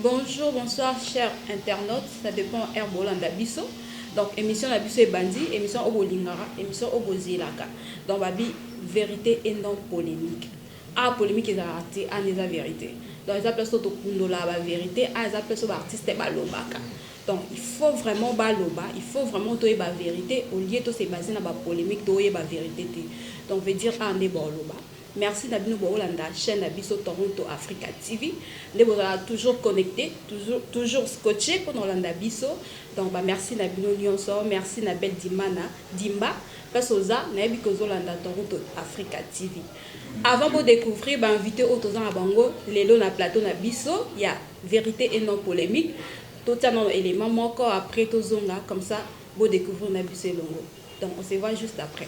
Bonjour, bonsoir, chers internautes. Ça dépend air bolanda biso. Donc émission la biso ebandi, émission obo lingara, émission obo zelaka. Donc babi vérité et non polémique. Ah polémique eza raté, ah eza vérité. Donc eza place to kundola ba vérité, ah eza place ba artiste ba lobaka. Donc il faut vraiment ba loba, il faut vraiment to yeba verite au lieu to se baser na ba polemique to yeba verite te. Donc veut dire awa nde bao loba. Merci na bino bao landa chaine na biso Toronto Africa TV. Nde bozala toujours connecte, toujours, toujours scotche pona olanda biso. Donc ba merci na bino nionso. Merci na belle Dimana, Dimba. Place oza, na yebi que ozo landa Toronto Africa TV. Avant bo découvrir ba invités oyo toza na bango lelo na plateau na biso ya Verite et non polemique totia nanu element moko après tozonga comme ça bo decouvrir na biso elongo donc on se voit juste après.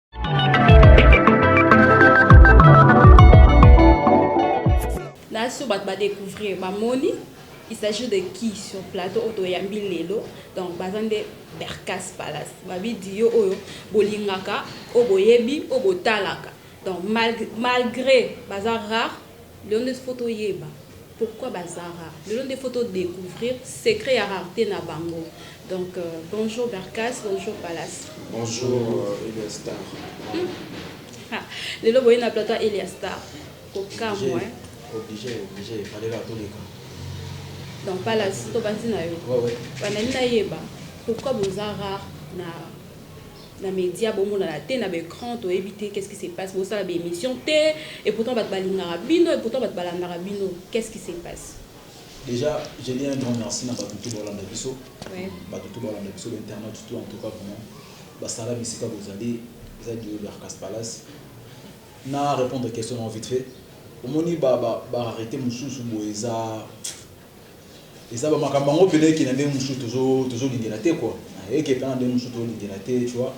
naso bato badécouvrir bamoni il s'agit de qui sur plateau oyo toyambi lelo donc baza nde bercas palace babidiyo oyo bolingaka oyo boyebi oyo botalaka donc malgré baza rare Lelo nde faut to yeba pourquoi ba za rares, lelo nde faut to decouvrir secret ya rarete na bango donc bonjour Bercasse, bonjour Palace. Bonjour Elia Star. Hum ah lelo boye na plateau ya Elia Star ko kamwa hein. Oblige oblige fallait la to leka. Donc Palace to banzi na yo. Ouais ouais. Ba nani na yeba pourquoi boza rare na na media bomonana te na ba ecran toyebi te qu'est ce qui se passe bosala ba emission te et pourtant batu balingaka bino et pourtant batu balandaka bino qu'est ce qui se passe Dejà je dis un grand merci na batu tout balanda biso ouais. batu tout balanda biso ba internautes tout en tout cas vraiment basala bisika bozali eza Guillaume Bercas Palace na répondre question na vite fait omoni ba ba ba arrêté mususu boye eza Eza ba makambo yango pena eke na ndenge mususu tozo tozo lingela te quoi eke pena na ndenge mususu tozo lingela te tu vois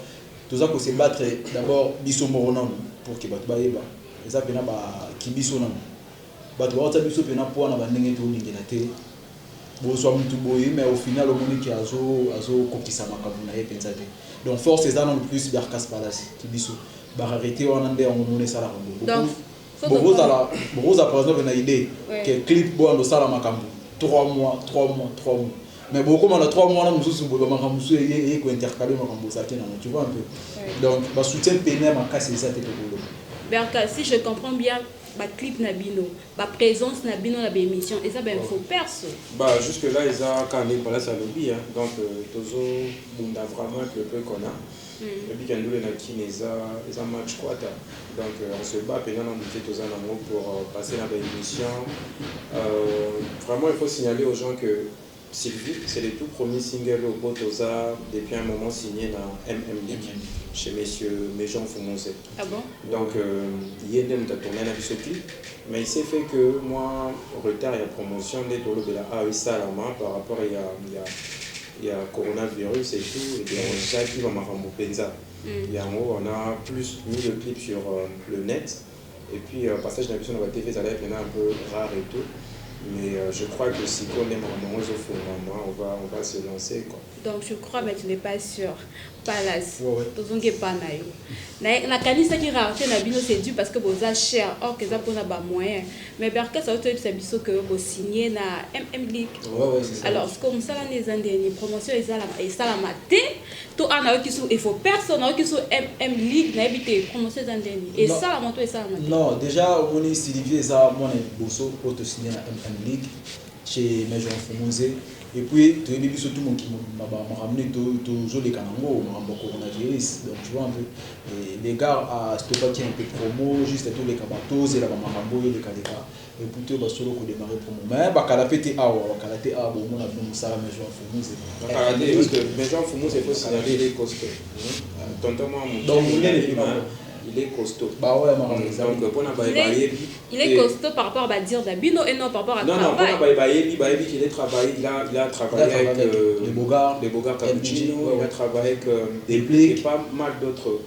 toza ko se battre d'abord biso moko nanu pour que batu bayeba eza pena ba ki biso nanu batu bao tia biso pena poids na ba ndenge tozo lingela te bozwa mutu boye mais au final omoni ke azo azo kokisa makambo na ye penza te donc force eza nanu plus Darcas Palace ki biso ba rarete wana nde yango omoni esalaka boye donc Bokozala bokozala par exemple na idee que clip boyanda osala makambo trois mois trois mois trois mois mais bokoma na trois mois wana mosusu boye ba makambo mosusu eye eye ko intercaler makambo bozalaki nango tu vois un peu donc ba soutien pene ya makasi eza te tokoloba Berka si je comprends bien ba clip na bino ba presence na bino na ba emission eza ba info perso Ba jusque là eza kaka ndenge Palace alobi hein donc euh, tozo bunda vraiment avec le peu qu'on a Oyebi ke ndule na kin eza eza match quata donc on se bat penza na muke toza nango pour passer na ba emission vraiment il faut signaler aux gens que Sylvie c'est le tout premier single oyo po toza depuis un moment signe na MM League chez monsieur Major Mfumuze donc ye nde mutu a tourner na biso clip mais il s'est fait que mua retard ya promotion nde tolobela awa esalama par rapport ya ya coronavirus et tout et bien eza kima makambo penza yango wana plus mis le clip sur le net et puis passage na biso na ba TV ezalaki pena un peu rare et tout mais je crois que sikoyo nde makambo yango ezo fungwama on va on va se lancer quoi. Donc tu crois mais tu n'es pas sur? Palace tozongi epa na yo na kanisaki rarete na bino c'est dû parce que boza cher or que eza pona ba moyens mais Berkes auto yebisa biso que bo signer na MM League alors ce que musala ne eza ndeni promotion ezala esalama te to ana yoki sur il faut personne yoki sur MM League na yebi te promotion eza ndeni esalama to esalama te non déjà omoni Sylvie eza mwana liboso auto signer na MM League chez Major Mfumunze et puis toyebi biso tout mokili mobimba ba makambo nini to tozo leka na ngo makambo ya coronavirus donc tu vois un peu et les gars a stoppaki un peu promo juste to leka ba to zela ba makambo oyo eleka leka et puis to ba solo ko demarrer promo mais ba kala pe te awa ba kala te awa bo mona bino musala Major Mfumunze ba kala te parce que Major Mfumunze faut signaler il est costaud tonton mwa muke il est costaud ba oya makambo donc pona ba yebi Il est costaud par rapport à ba dires na bino et non par rapport à travail. Non non pona baye bayebi bayebi qu'il est travaille il a il a travaille avec euh, les Bogards, les Bogards Cappuccino, ouais, ouais. il a travaille avec euh, Deplick et pas mal d'autres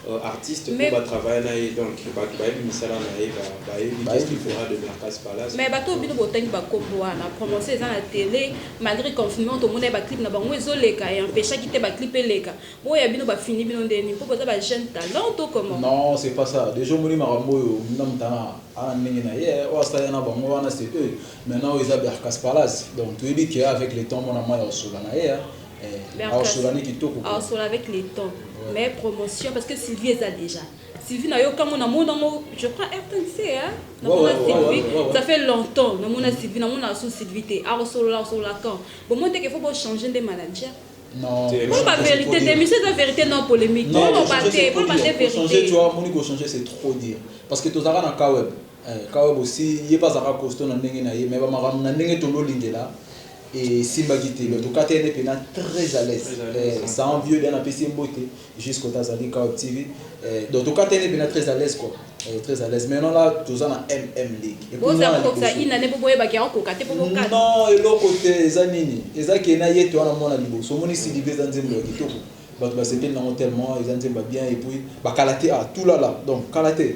euh, artistes mais, pour travailler na ye donc bato bayebi misala na ye bayebi qu'est-ce qu'il fera de Mercas Palace mais bato bino botangi bakombo wana promotion eza na télé malgré confinement tomona ye baclip na bango ezoleka e empêchaki te baclip eleka Oyo ya bino ba fini bino nde nini po boza ba jeune talent to comment. Non c'est pas ça dejà omoni makambo oyo na mutana ana ndenge na ye oyo asala na bango wana c'est eux maintenant oyo eza bercas palace donc toyebi que avec le temps mwana mayi akosola na ye eh akosola ne kitoko quoi akosola avec le temps mais promotion parce que Sylvie eza dejà Sylvie na yo kamo na mona ngo je crois RTNC hein na mona Sylvie ça fait longtemps na mona Sylvie na mona sous Sylvie te akosolola akosolola quand bon moi te qu'il faut bo changer nde manager Pour ba vérité te, monsieur eza vérité non polemique. Non, non, ba te, pour ba te vérité. Changer, tu vois, moni ko changer c'est trop dire. Parce que tozaka na Kaweb. Eh, Kaweb aussi, ye pas zaka costaud na ndenge na ye, mais ba makambo na ndenge to lolingela et simba kiti le tokate ne pena très à l'aise. Eh, sans vieux bien apesi mbote. Jusque oyo azali Kaol TV eh, donc tokatani pena très à l'aise quoi eh, très à l'aise maintenant là toza na mm league et puis boza mwana kokokisa liboso. ina ne po boyebaki yango koka te po bokata non eloko te eza nini eza ke na ye te wana mwana liboso omoni sidibe eza nzembo ya kitoko bato basepeli nango tellement eza nzembo ya bien et puis bakala te ah tulala donc kala te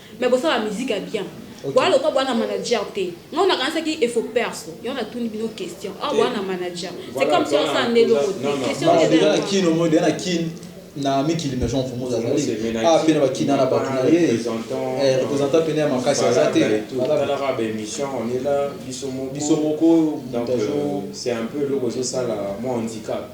Mais bosala ba musique ya bien. Boya lokola boya na manager te. Ngai na kanisaki il faut perso. Yango na tuni bino question. Awa boya na manager. C'est comme si osala nde eloko te. Question eza ya ngai. Kin omoyi deja na kin na mikili mais jean fumoza azali a pe na ba kina na batu na ye representant pene ya makasi aza te talaka ba emission on est là biso moko biso moko donc c'est un peu eloko ezo sala moi handicap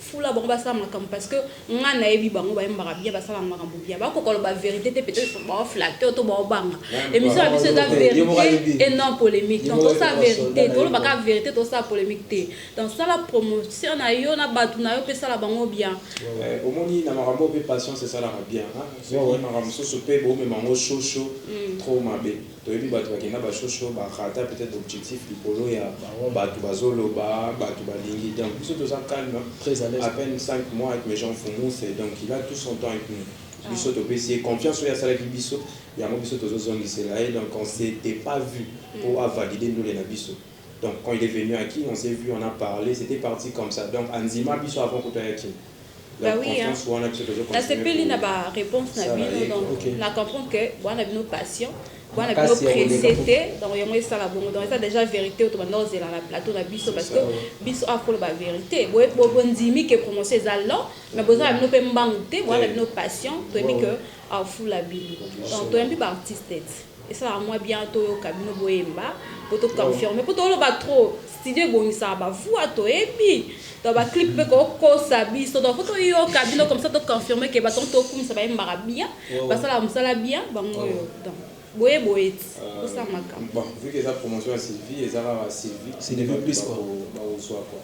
Fula bango basala makambo parce que nga nayebi bango bayembaka bien basalaka makambo bien bakoka koloba verite te peut-être bao flatter to bao banga émission na biso eza verite et non polemique donc tosala verite toloba kaka verite tosala polemique te donc sala promotion na yo na bato na yo mpe sala bango bien omoni na makambo mpe patience esalaka bien soki makambo mosusu mpe bomema yango shosho trop mabe Toyebi batu bakenda ba show show ba rata peut etre objectif likolo ya batu bazo loba batu balingi donc biso toza calme a peine cinq mois avec Major Mfumu c'est donc il a tout son temps avec nous biso topesi ye confiance oyo asalaki biso yango biso tozo zongisela ye donc on s'etait pas vu po a valider ndule na biso donc quand il est venu à kin on s'est vu on a parle c'etait parti comme ça donc andima biso avant kutu aya kin. Ba oui hein. Nasepeli na ba reponse na bino donc na comprendre que boa na bino patient boa na bino presse te donc yango esala bongo donc eza déjà verite oyo tobanda kozela na plateau na biso parce que biso awa koloba verite bondimi que promotion eza lent mais boza na bino mpe mbangu te boa na bino patient toyebi que afula bino donc toyambi ba artiste te Esalaka mua bien toyoka bino boyemba po to confirmer po toloba trop studio ebongisaka ba voix toyebi donc ba clip pe kokosa biso donc faut toyoka bino comme ça to confirmer que bato tokumisa bayembaka bien basalaka mosala bien bango oyo donc boye boye ti tosala makambo. Bon vu que eza promotion ya Sylvie eza kaka Sylvie nde bato bakozua quoi.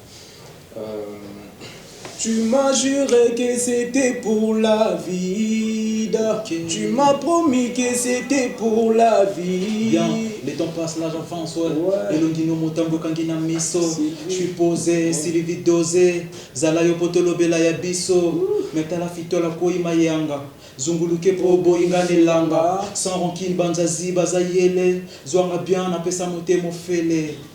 Tu m'as jure que c'etait pour la vida okay. Tu m'as promis que c'etait pour la vie yeah. Le temps passe, l'âge enfance, ouais. ouais. elongi no motambo ekangi na miso je suis posé ouais. silivi dose zala yo po tolobela ya biso me tala fitola koi mayanga zunguluke po oboyi nga na elanga sans rancune banzazi baza yele zwanga bien napesa motema ofele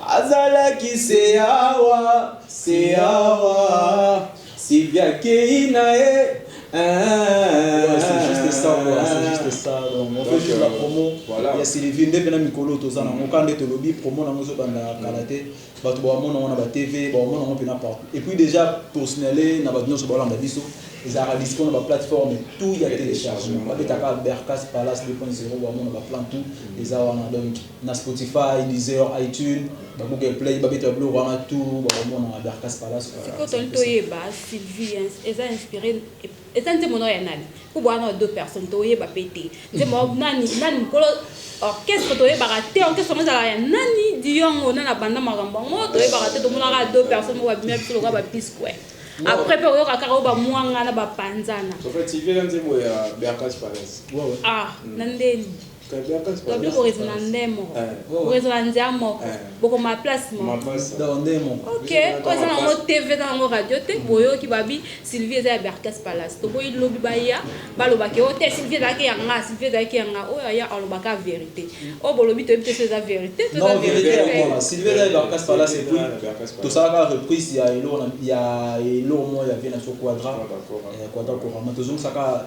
Azalaki se awa, se awa, Sylvia akeyi na ye nde pena mikolo oyo toza nango kaka nde tolobi promo nango ezobanda kala te bato bawamona yango na batv bawamona yango mpena partout et puis déjà tosinale na bato nyonso balanda biso ezalaka dispo na baplateforme tout ya téléchargement babetaka bercas palace 2.0 bawamona baplan tout eza wana donc na Spotify, Deezer, iTunes, ba Google Play, ba beta biloko wana tout ba komona na Berkas Palace. Sikoyo toni toyeba Sylvie hein, eza inspiré eza nzembo nao ya nani? Mpo boa nao deux personnes toyeba mpe te nzembo yao nani nani mokolo orchestre toyebaka te orchestre yango ezalaka ya nani diongo nani abanda makambo yango toyebaka te tomonaka deux personnes moko babimia biso lokola babisque après mpe oyoka kaka oyo bamwanga na bapanzana ah na ndeni Tobio ko raisona nde moko, ko raisona ndia moko, bokoma place moko. Ok, oyo eza nango TV eza nango radio te, boyoki babi Sylvie eza ya Berkas Palace. Toboyi lobi baya baloba ke oyo te Sylvie ezalaki ya nga, Sylvie ezalaki ya nga. Oyo aya alobaka verite. Oyo bolobi toyebi te soki eza verite to eza verite te. Sylvie eza ya Berkas Palace et puis tosalaka reprise ya eloko ya eloko moko ya Vie na Soko Quadra, Quadra Corama tozongisaka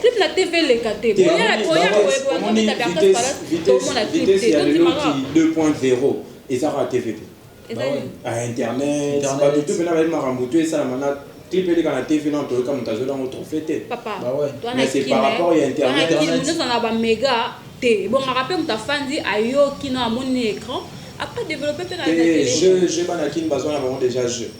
clip na tv eleka te boyaaoyaoyaaomona clip te tondimaka 2.0 eza kaka tv te a internet bato tu mpe na bayebi makambo tu esalama na clip eleka na tv na toyoka moto azweli yango trophée te mais c'est par rapport ya internetozala bamega te ebongaka mpe moto afandi ayoki na amoni na écran après développe mpe na jeu bana kini bazwa na bango déjà jeu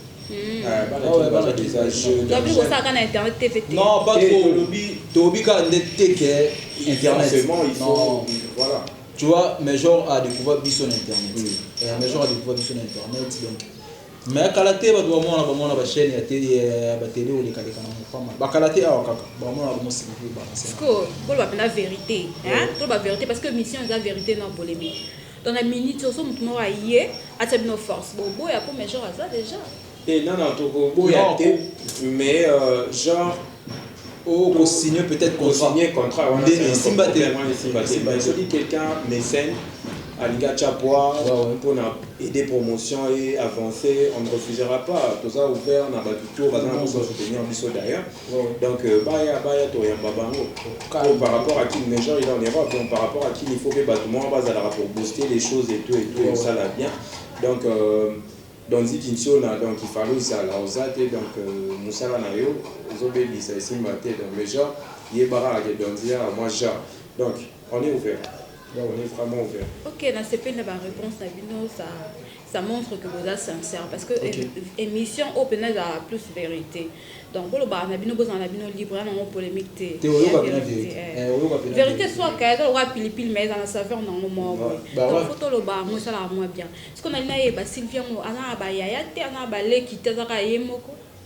Gabriel kosala kaka na internet te fete. Non, pas trop. Olobi tolobi kaka nde te que internet. Non. Voilà. Tu vois, mais genre à découvrir biso na internet. Mm. Et mais genre à découvrir biso na internet donc mais kala te bato bamona bamona bachaine ya tele batele olekaleka na mopama bakala te awa kaka bamona bamosilipe bakoloba mpena vérité toloba vérité parce que mission eza vérité na polémique Donc na minute oyo soki mutu moko aye atia bino force bo boya po major aza dejà. Te nana toko boya te mais euh, genre oh ko signer peut-être contrat signer contrat wana ndene simba te wana simba te mais soki quelqu'un mécène alinga chapwa pour na aider promotion et avancer on ne refusera pas toza ouvert na batu tout baza na soutenir biso d'ailleurs Donc euh, baya baya toyamba bango comme par rapport à Kin Major il est en Europe donc par rapport à Kin il faut que bato moko bazalaka pour booster les choses et tout et tout et ça la bien donc euh, donc ziki nsiona donc il fallait ozala oza te donc euh, mosala na yo ozobebisa esimba te donc Major yebaka ake donc zia moi genre donc on est ouvert donc on est vraiment ouvert ok nasepeli na baréponse na bino ça ça montre que boza sincère parce que okay. émission oyo mpenza ezalaka plus vérité donc bolobaka na bino bozala na bino libre ya nango polémique te vérité soaka eza lokola pilipili mais eza na saveur nango moko donc fo toloba yango esalaka mwa bien siko nali nayeba sylvie yango aza na bayaya te aza na baleki te azaka ye moko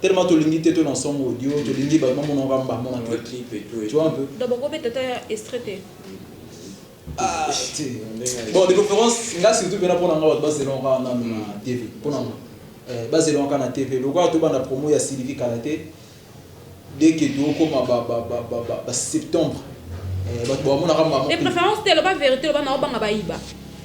Tellement tolingi te to na song audio tolingi ba mama na ba mama na clip clip et tout. Tu vois un peu? Donc boko beta ta extrait te. Ah te. Bon de préférence nga surtout pena pona nga ba zela nga na na TV. Pona nga. Euh ba zela nga na TV. Lokola to banda promo ya Sylvie Kalate. Dès que to koma ba ba ba ba ba, ba septembre. Euh ba to mona ka mama. De préférence te loba verité loba na obanga ba iba.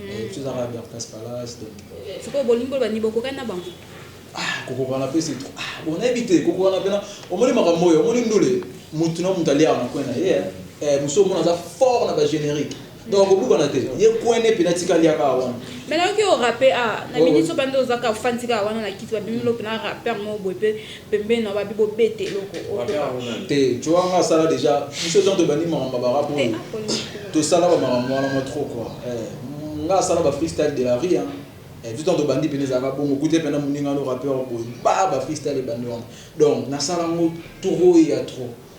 Eh, tu zaka bien passe par là, c'est donc. Soko bolingo ba ni bokokani na bango. Ah, kokokana pe c'est trop. Ah, bon nayebi te kokokana pe na omoni makambo oyo, omoni ndule mutu na mutu aliaka na coin na ye. Eh, musu omona aza fort na ba générique. Donc akobukana te. Ye coin ne pe na tika aliaka wana. Mais nayoki o rappe ah, na minute oyo bande ozaka ofandi kaka wana na kiti ba bimi lope na rapper mo boye pe Pembeni na babi bo beta eloko oyo. Te choix nga asala dejà biso gens tobandi makambo ya ba rap oyo tosala ba makambo wana mwa trop quoi eh nga asala ba freestyle de la rue hein eh biso tango tobandi pena ezalaka bongo okuti ye pena muninga no rappeur boye ba ba freestyle ebandi wana donc nasala ngo trop ya trop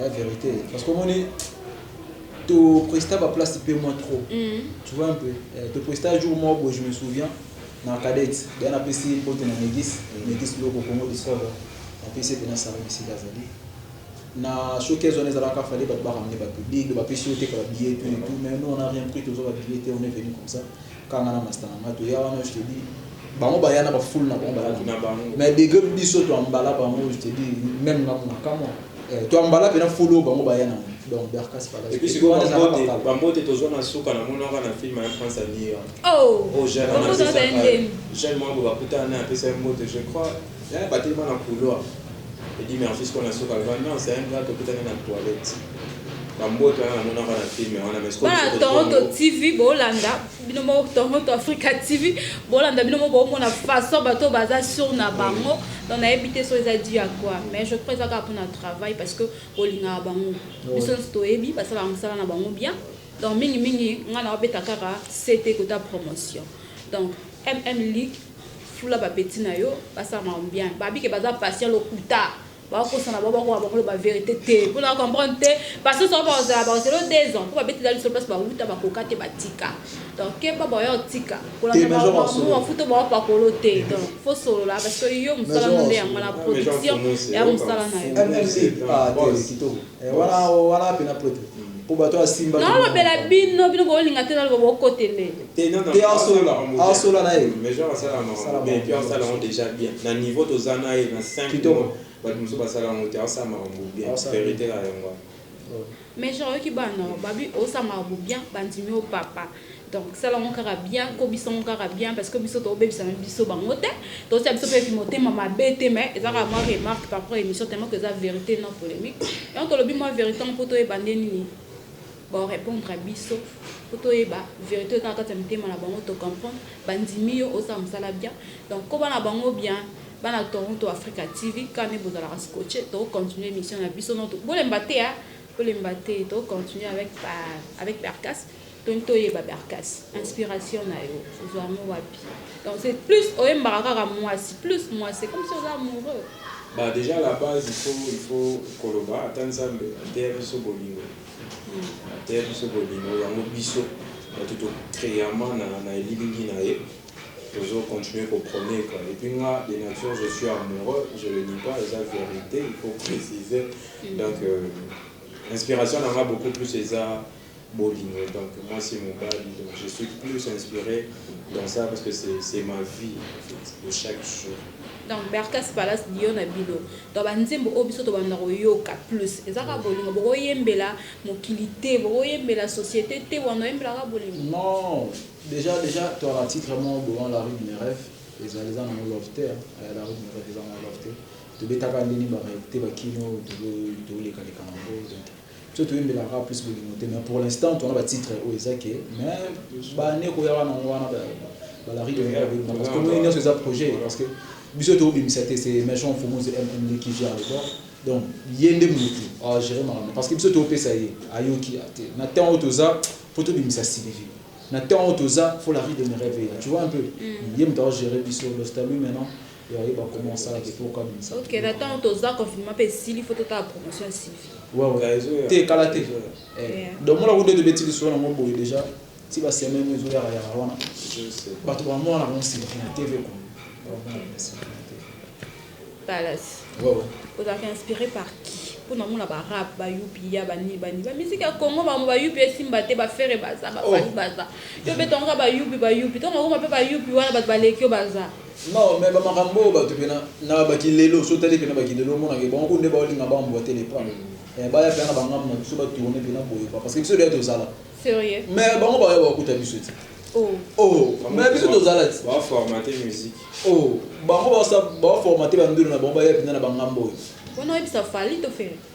ya verite parce que omoni to presta ba place pe moi trop mm. tu vois un peu eh, to presta jour moi boye je me souviens na cadet da na pesi mbote na negis mm. negis loko congo discover na pesi pe na sala misi azali na showcase wana ezalaka fallait bato ba ramener ba public ba pesi yo te ka ba billet tout et tout mais nous on a rien pris tozo ba billet te on est venu comme ça Kaka nga na masta na nga toya wana je te dis bango baya na ba foule na bango baya na bango mais degre biso to ambala bango je te dis même nga muna kamwa eh, to ambala pena foule oyo bango baya na donc Berkas Palace et puis siko bambote bambote tozwa na suka na mona ka na film ya France à New York oh oh jeune mwa boye bakutana na apesa mbote je crois Eh batelema na couloir. Eddy merci sikoyo na suka alba non c'est un gars tokutani na toilette. Ba mbote wana na monaka na film wana mais sikoyo. Bana Toronto TV bolanda bino mo Toronto Africa TV bolanda bino mo bomona façon bato baza sur na bango. Mm. donc nayebi te so eza dû à quoi mais je crois ezaka mpona travail parce que olingaka bango biso nyonso toyebi basalaka mosala na bango bien donc mingimingi ngai naobeta kaka ct kota promotion donc mm league Fula ba petit na yo basala makambo bien babi ke baza patient lokuta bakosana ba bakoma bango loba verite te mpo na comprendre te basusu yango bakozala bakozela deux ans mpo babetela lisolo place bawuta bakoka te batika donc keba boya otika kolanda bango bafuta bawapakolo te donc fo solola parce que yo mosala no nde yango na production ya mosala na yo Eh, wana wana pena pwete mpo bato ya simba naolobela bino bino bolinga te naloba bokotele te asola asola na ye mais genre asala makambo bien puis asala yango déjà bien na niveau toza na ye na 5 mois bato mosusu basala yango te asala makambo bien verité na yango mais genre oyoki bana babi osala makambo bien bandimi yo papa Donc sala ngo kaka bien, kobisa ngo kaka bien parce que biso to bebisa na biso bango te. To tia biso pe motema mabe te mais eza kaka moi remarque par rapport émission tellement que eza vérité non polémique. Et on to lobi moi vérité ngo poto yeba nde nini. Bon répondre à biso poto yeba vérité eza kaka motema na bango to comprendre bandimi yo osa musala bien. Donc ko bana bango bien bana Toronto Africa TV quand ne bozala scotché to continuer émission na biso non to bolemba te hein. Bolemba te to continuer avec euh, avec Percas. Toni toyeba Bercas inspiration na yo ozua yango wapi donc c'est plus oyembaka kaka muasi plus muasi c'est comme si oza amoureux. Bah dejà la base il faut il faut koloba ata nzambe ateya biso bolingo ateya biso bolingo yango biso batu to creama na na elilingi na ye tozo continuer ko proner quoi et puis nga de nature je suis amoureux je le nie pas eza verite il faut preciser donc euh, inspiration na nga beaucoup plus eza bolingo donc mwasi et mobali donc je suis plus inspire dans ça parce que c'est c'est ma vie en fait de chaque jour donc berkas palace lion na bino donc banzembo oyo biso tobanda koyoka plus eza kaka bolingo bokoyembela mokili te bokoyembela société te wana oyembela kaka bolingo non déjà déjà to na titre moko bolan la rue de mes rêves ezali eza nango love te eh, la rue de mes rêves eza nango love te tobetaka ndeni barealité bakino tolekaleka nango donc Biso toyembelaka plus bolingo te mais pour l'instant toza na ba titre oyo eza ke mais ba annee ekoyaka na ngo wana ba la rue de mira ebebaka parce que tomoni nionso eza projet parce que biso to bimisa te c'est Merchant Mfumuzi MMD qui gère le bord donc ye nde mutu a gerer makambo parce que biso to pesa ye ayoki te na temps oyo toza faut to bimisa Sylvie na temps oyo toza faut la rue de mes reve eya tu vois un peu ye mutu a gerer biso Dosta lui maintenant Ya ye ba koma osala te po kabimisa. Ok na tango toza confinement pe esili faut totala promotion ya Sylvie. Wewe te kala te eh domola kutu ete beti lisolo nango boye dejà ti ba semaine ezo yaka yaka wana batu ba mona nango Sylvie na TV quoi ba mona nango Sylvie na TV. Palace. Wewe. Ozalaka inspire par qui? po na mona ba rap ba upia ba nini ba nini ba musique ya Congo ba ba upia esimba te ba ferre baza ba fally baza yo beta ngo ba upi ba upi tango okoma pe ba upi wana batu baleki yo baza Non mais ba makambo oyo batu pena na ba kilelo soki otali pena ba kilelo omona ke bango kutu nde bao linga ba emboite le pas eh baya pena na ba ngambo na biso ba tourner pena boye quoi parce que biso dejà tozala Serieux? mais bango baya ba kuta biso ti Oh oh mais biso tozala ti Ba formate musique. oh bango ba sa bao formate ba ndule na bango baya pena na ba ngambo oyo. Pona oyebisa Fally to Ferre?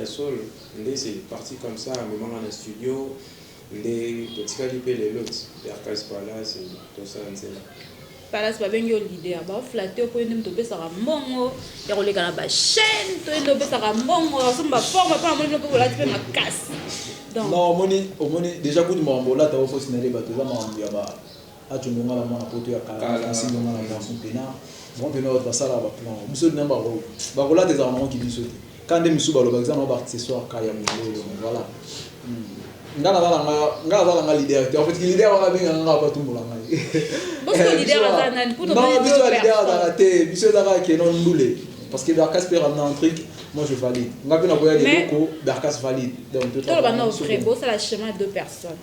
Ya solo nde c'est parti comme ça amema nga na studio nde totikali pe lelo ti Berca's palace tosala nzembo. Palace babengi yo leader bao flatter yo po yo nde mutu opesaka mbongo ya koleka na ba chaine to yo nde opesaka mbongo ya kosomba ba forme po namoni bino pe bolati pe makasi donc. Non omoni omoni dejà kutu makambo olata o fausse na leba toza makambo ya ba Acho ndonga la mwana poto ya kala na francis ndonga la mwana son pena bango pena batu basalaka ba plan wana biso nde bako bakolata ezalaka nango ki biso te ka nde misusu balobaka eza nango ba accessoire ka ya mongolo voilà nga naza na nga nga naza na nga leader te en fait leader wana benga nga nga batumbola nga biso leader aza nani pour non biso leader azaka te biso eza kaka kenon ndule parce que Darkas peut ramener un truc moi je valide nga mpe nakoya leloko Darkas valide donc toloba na vrai bosala chemin deux personnes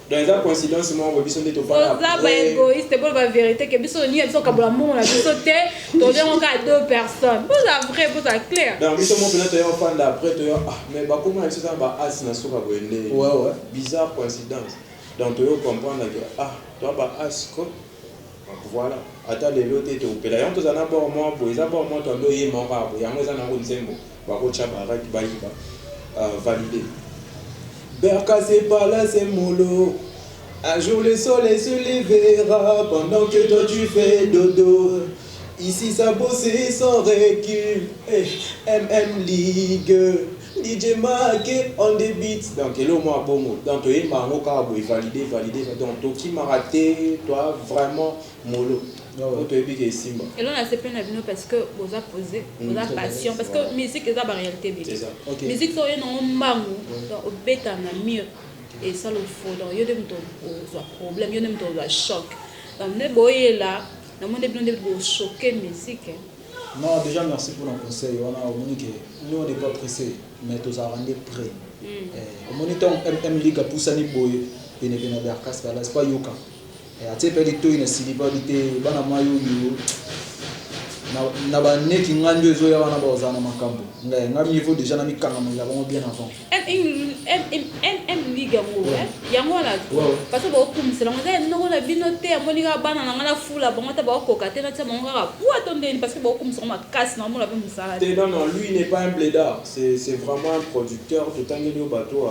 Donc eza coïncidence moko boye biso nde topana après. Toza ba égoïste bo ba vérité que biso ni biso kabola mbongo na biso te toza yango kaka deux personnes. Boza vrai boza clair. Donc biso mo pena toya ofanda après toya ah mais ba koma biso za ba as na suka boye nde. Ouais ouais. Bizarre coïncidence. Donc toyo comprendre que ah toi ba as ko Voilà ata lelo te tokopela yango tozala na bord moko boye eza bord moko to ando oyemba yango kaka boye yango eza na yango nzembo bakotia ba règles bayiba uh, valide Berka c'est pas là c'est molo Un jour le soleil se levera pendant que toi tu fais dodo Ici ça bosse sans recul eh, MM Ligue DJ Maake on the beat donc eloko moko ya bongo donc toyemba yango kaka boye valide valide va donc tokimaka te toi vraiment molo po toyebi ke esimba. Eloko na sepeli na bino parce que boza pose boza patient parce que musique eza ba realite ebele musique soki oye nango mbangu donc obeta na mur esala ofo donc yo nde moto ozwa problème yo nde moto ozwa choc donc nde boyela namoni bino nde bochoke musique. Non dejà merci pona conseil wana omoni ke nous on n'est pas presse mais tozalaka nde près eh, omoni ntango mm ligue apusani boye penepene ya bercas palace mpo ayoka eh, atie mpe litoi na silipa bi te bana mai oyo na baneki ngai nde ezoya wana bakozala na makambo ngai ngai mivo dejà namikangamela bango bien avant MM ligue yango yango wana bato bakokumisela yango eza noko na bino te amoni kaka bana na ngai na fula bango ata bakokoka te natia bango kaka pua to ndeni parce que bakokumisa yango makasi na omona mpe mosala te non non lui n'est pas un bledard c'est c'est vraiment un producteur totangeli yo bato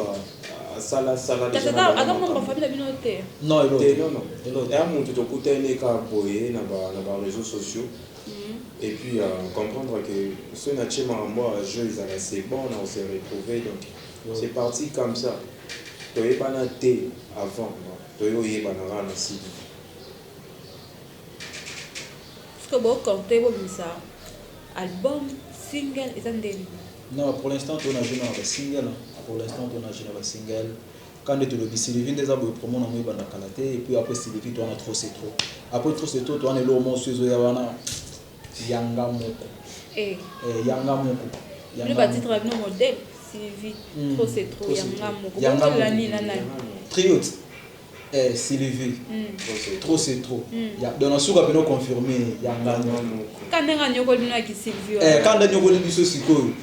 asala sala ata mwa bafamile bino te non non non ya moto tokutani kaka boye na ba réseaux sociaux et puis uh, comprendre que soki na tie makambo ya jeu ezala c'est bon na se retrouver donc c'est parti comme ça toyebana te avant toye oyebana kaka na sidi que bo compte bo bisa album single eza nde non pour l'instant tona jeu na ba single pour l'instant tona jeu na ba single Kaka nde tolobi Sylvie nde eza boye promo nango ebanda kala te et puis après Sylvie to wana trop c'est trop après trop c'est trop to wana eloko moko su ezoya wana ya nga moko eh ya nga moko ya nga moko ba titre bino modèle Sylvie hmm. trop c'est trop ya nga moko ya nga moko nani nani triote eh Sylvie hmm. trop c'est trop hmm. ya donc na suka bino confirmer ya nga moko kanda nga nyokoli bino ya ki Sylvie eh kanda nyokoli biso sikoyo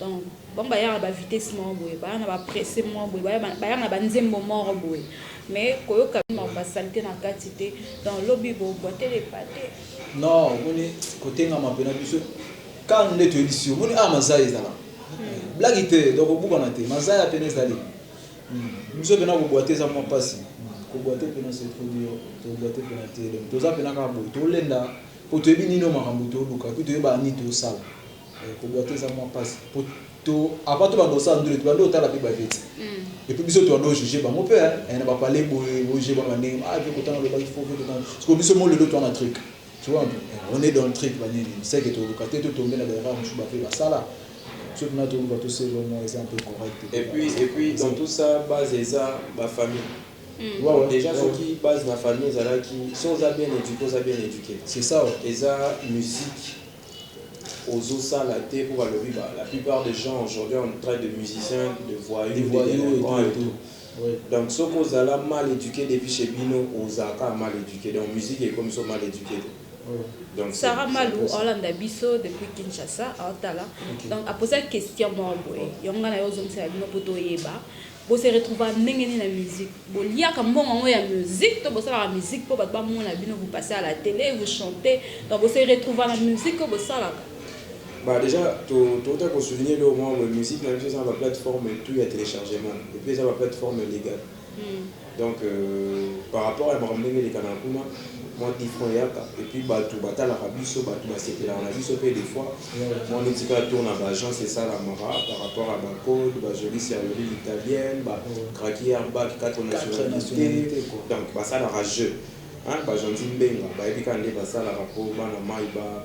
Donc bango bayaka ba vitesse moko boye baya na ba presse moko boye bayaka na ba nzembo moko boye mais koyoka makambo ya salite na kati te donc lobi bo boite de pate non omoni kotengama mpe na biso kanu nde toyebisi yo omoni awa mazaya ezala hmm. blagi te donc obukana te mazaya mpena ezali hmm. biso mpena kobwate eza mwa mpasi hmm. kobwate mpena se trop dur tobwate mpena te toza mpena kaka boye tolenda mpo toyebi nini oyo makambo toluka mpe toyeba nini tosala Eh, koboite eza mwa pasi po to avant to banda kosala ndule tobanda kotala mpe baveti et puis biso tobanda kojuge bango mpe eh, na bapale boye bojuge bango na ndenge ah vie kotanga lobaki fo vie kotanga siko biso mo lelo toa na truc tu vois mpe eh, on est dans le truc banini seke toluka te totombe na baerreur mosusu bape basala biso tuna toluka toselo mwa eza mpe correct et puis et puis dans tout ça base eza bafamille Mm. Wow, ouais, déjà ouais. soki base na famille ezalaki so oza bien éduqué oza bien éduqué c'est ça ouais. eza musique ozo sala te po balobi ba la plupart des gens aujourd'hui on traite de musiciens de voyous de delinquants et tout donc soki ozala mal eduque depuis chez bino ozala kaka mal eduque donc musique ekomi so mal eduque te donc Sarah Malu olanda biso depuis Kinshasa otala donc aposa question moko boye yango nga nayo ozongisela bino po toyeba Bo se retrouvaka ndenge nini na musique? Bo liaka mbongo yango ya musique to bo salaka musique po batu ba mona bino vous passez à la tele, vous chantez donc bo se retrouvaka na musique oyo bo salaka? Bah dejà to tokota ko souligner eloko moko boye musique na biso eza na ba plateforme tout ya telechargement et puis eza ba plateforme legale. Donc par rapport ya makambo ndenge elekaka na kuna, mwa different eyaka et puis batu batalaka biso, batu basepelaka na biso pe de fois mwa mitika tour na ba agences esalamaka par rapport ya ba codes, ba jolie serrurerie italienne, ba craquer air bag, quatre nationalites, donc basalaka jeu hein, ba gentil mbenga bayebi kaka ndenge basalaka po bana mayi ba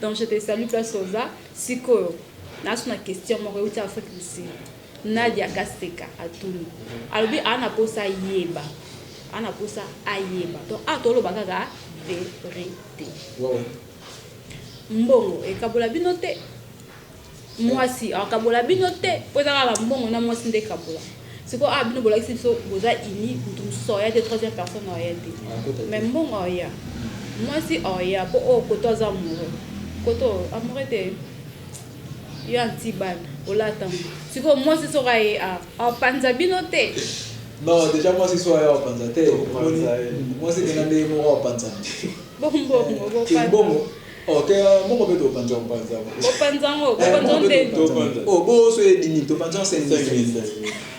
Donc je te salue place oza sikoyo naso na question moko euti Afrique du Sud Nadia Kaseka atuni alobi a na posa yeba a na posa ayeba donc a toloba kaka verite mbongo ekabola bino te Muasi akabola bino te po eza kaka mbongo na muasi nde ekabola. Sikoyo awa bino bolakisi biso boza unis mutu mosusu aoya te troisième personne aoya te. Mais mbongo aoya. Muasi aoya po oyo koto aza amoureux. Koto amoureux te yo anti bana olata ngo. Sikoyo muasi soki aye awa apanza bino te. Non dejà muasi soki aye awa apanza te. Muasi kena nde ye moko apanzana. Bo mbongo bo panza. Oh te moko pe to panza panza. Bo panza ngo, bo panza nde. Oh bo so ye dimi to panza 5000.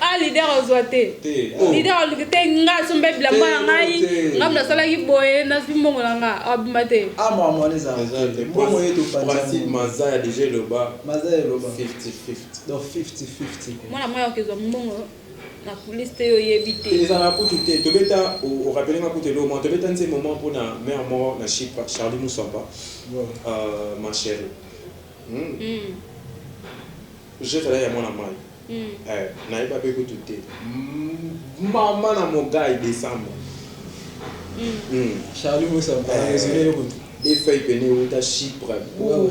ah leader ozwa te oh. leader aluki te nga asomba bilamba ya ngai nga mna asalaki boye nazwi mbongo na nga abima te ah, mwana mwaya okezwa mbongo Na coulisse te yo oyebi te. Ezalaka kutu te tobeta o rappeler nga kutu eloko moko tobeta nzembo moko pona mère moko na shipra Charlie Muswapa euh ma cherie humm je t'aime ya mwana mayi eh nayeba pe kutu te maman na mogayi decembre humm Charlie Muswapa na resume yo kutu deux feuilles pene ewuta shipra ouh.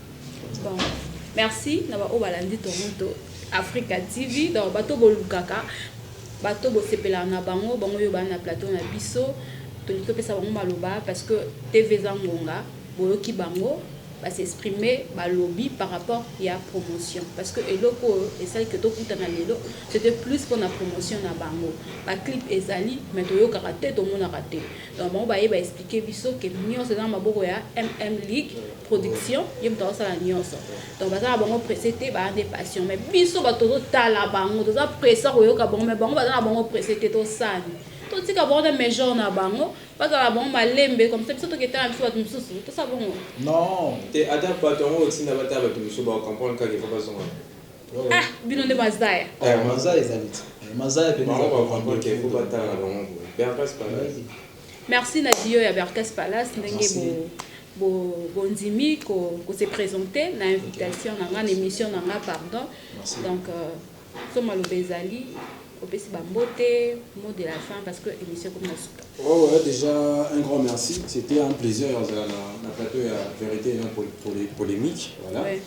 Bon, merci na ba oyo balandi Toronto Africa TV. Donc bato bolukaka, bato bosepelaka na bango, bango yo bana na plateau na biso. Tolingi topesa bango maloba parce que TV eza ngonga, boyoki bango ba s'exprimer balobi par rapport ya promotion parce que eloko oyo esali ke tokutana lelo c'était plus mpona promotion na bango baclip ezali mais toyokaka te tomonaka te donc bango baye baexplike biso ke nyonso eza na maboko ya mm league production ye moto azosala nyonso donc baza na bango presse te baa nde passion mais biso bato tozotala bango toza presse koyoka bango mais bango baza na bango presse te tosani totika bango na major na bango bazala bango malembe comme ça biso toketala biso bato mosusu tosala bongo non te ata bato yango otinda batala bato mosusu baocomprendre kaka efa bazonga ah bino nde mazaya eh, mazaya ezali te eh, mazaya mpe bango baocomprendre kefo batala na bango boye berpas pareil Merci na duo ya Berkes Palace ndenge bo bondimi ko ko se presenter na invitation na nga na emission na nga pardon. Merci. Donc euh, so maloba ezali opesi ba mbote mot de la fin parce que emission comme na suka. Oh ouais, déjà un grand merci. C'était un plaisir ya kozala na na plateau ya vérité et non pour, pour les polemiques. Voilà. Ouais.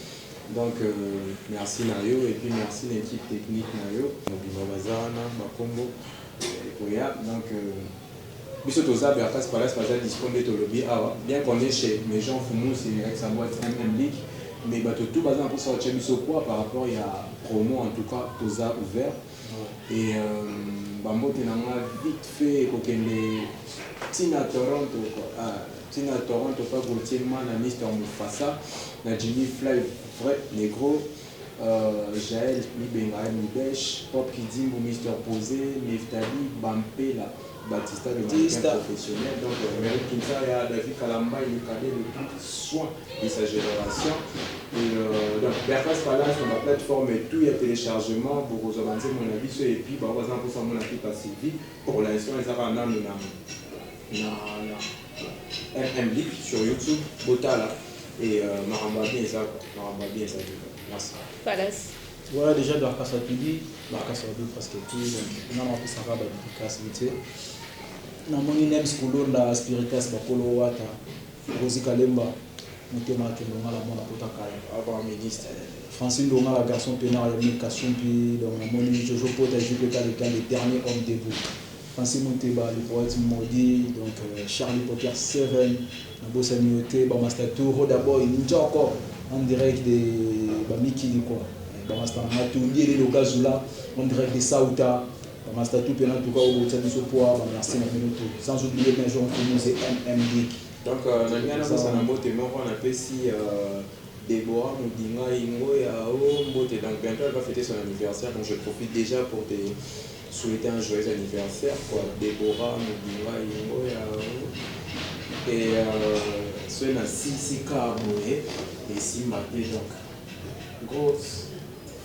Donc euh, merci na yo et puis merci na équipe technique na yo. Mobima baza wana bakombo ekoya donc biso toza ba face palace baza dispo nde tolobi awa bien qu'on est chez mes gens fumus et avec sa boite MM League mais bato tout baza na posa otia biso poids par rapport ya promo en tout cas toza ouvert et euh, ba mbote na nga vite fait ekokende tina Toronto ah, tina Toronto pa Gauthier Mana Mister Mufasa na Jimmy Fly vrai negro Jael Mibenga Mibesh, Pop Kidimbu, Mister Pose, Nephtalie Bampela, Batista le mannequin professionnel, donc Emery Kinsaya, David Kalambay le cadet le plus soin de sa generation et donc Berras Palace na ba plate formes tout ya telechargement bokozwa ba nzembo na biso et puis ba oyo baza na posa ya komona Pepa Sylvie pour l'instant eza kaka nanu na MMlick sur YouTube botala et makambo ya bien eza makambo ya bien ezali merci. Palace. Voilà dejà Dorcas atuli Dorcas alobi presque tout donc nga na pesaka ba dedicace vite fait na moni Nems Kulunda Spiritas Bakolo Wata Rosi Kalemba Motema Akendo nga na mona pota kala avant ministre Francis Ndonga la garçon peinard ya Mil Kasumpi donc na moni Jojo Pota JPK le temps le dernier homme debout Francis Muteba le poète maudit donc Charly Poker Seven na bosani yo te ba masta tout Roda Boy Njoko en direct de ba mikili quoi ba masta na nga tout Diele Lokazula en direct de Ceuta ba masta tout pena tout ka obokisa biso poa ba merci na bino tout sans oublier Major Nkumu ze MM Dick Donc na linga na bosana mbote moko na pesi ya Deborah Mudinga Ingoya oh mbote donc bientot elle va feter son anniversaire donc je profite dejà pour te souhaite un joyeux anniversaire kwa Deborah mobimba yango ya et soki na silisi ka boye esimba te donc gros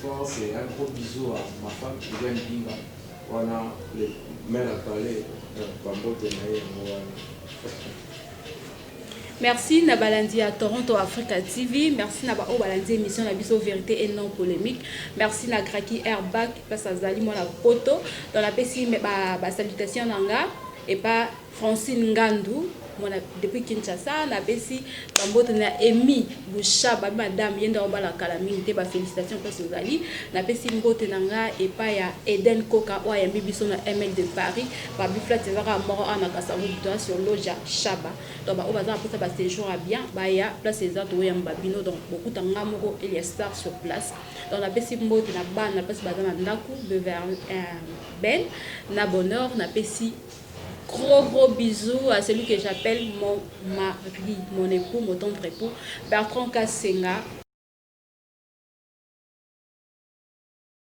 force et un gros bisou à ma femme Viviane Bimba wana le maire a parler donc ba mbote na ye yango wana Merci na balandi ya Toronto Africa TV, merci na ba oyo balandi emission na biso verite et non polemique. Merci na Graki Airbag parce azali mwana poto. Donc napesi me- ba, ba salutations na nga et pa Francine Ngandu mwana depuis Kinshasa napesi bambote na Emi Busha ba madame yenda obala kala mingi te ba félicitations parce ozali napesi mbote na nga epa ya Eden Koka oyo ayambi biso na ML de Paris Ba biflats eza kaka moko awa na Kasavubu toza sur Loggia Shaba donc ba oyo baza na posa ba sejour ya bien baya place eza to yamba bino donc bokuta nga moko Elia Star sur place donc na pesi mbote na bana place baza na ndaku Beverly Ben na Bonheur na pesi gros gros bisous à celui que j'appelle mon mari mon époux mon tendre époux Bertrand Kasenga